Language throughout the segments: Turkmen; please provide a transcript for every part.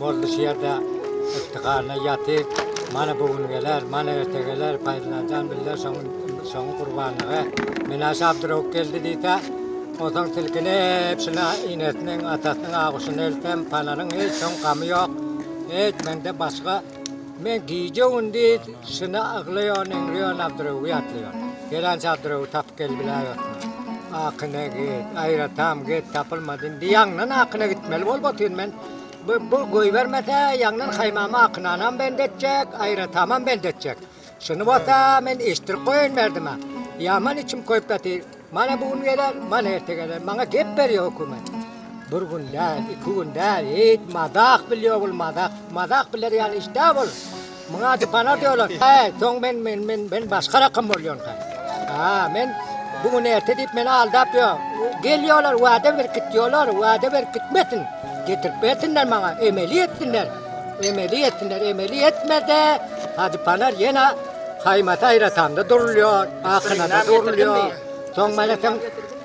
Boldy şu ýerde yftihana ýatyp, mana bu gün geler, mana erte geler, paýlanjan biller şoň-şoň gurbanlygy. Menaşe Abdyrewuk geldi diýse, onsoň silkinip şuna inesiniň, atasynyň aguşyny eltsem, palanyň hiç soň gamy ýok. Hiç mende başga, men gije-gündiz şuna yglaýan, eňreýän Abdyrewugy ýatlaýan. Gelänçä Abdyrewugy tapyp gelibiläýotmy? Akyna git, aýratam git, tapylmady. Indi ýaňydan akyna gitmeli bolup otyryn men. Bu pul goýbermese, ýaňdan haýmamy akynanam bend etjek, aýratamam bend etjek. Şuny bolsa men eşitdirip goýaýyn merdime. Ýaman içim köýüp ýatyr. Mana bu gün geler, mana erte geler. Maňa gep berýär hökümet. Bir gün däl, iki gün däl. Eýt, mazak bilýär bul, mazak. Mazak biler ýaly iş däl bul. Muňa aty bana diyorlar. He, soň men men men men başga rakam bolýan sen. Ha, men bu gün erte diýip meni aldap ýör. Gelýärler, wada berip gitýärler, wada berip gitmesin. Getirip bersinler maňa, emeli etsinler. Emeli etsinler, emeli etmede Hajy Panar ýene haýmat aýratamda durulýar, akynada durulýar. Soň mene sen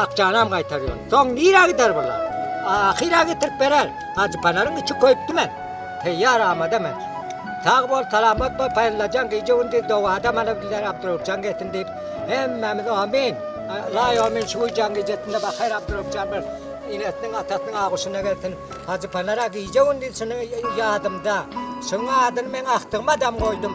Akjanam gaýtarýon. Soň nirä gider bular? Ahyra getirip berer. Hajypanaryň içi köýüpdi men. Teýýar amada men. Sag bol, salamat bol, Paýyllajan gije-gündiz dowada mana bizler Abdurrahupjan gelsin diýip, hemmämiz amin, laý amin şu gijäň gijesinde bahayr Abdurrahupjan bir enesiniň, atasynyň aguşyna gelsin. Hajypanar-a gije-gündiz şuny ýadymda. Şuň adyny men agtygyma dam goýdum.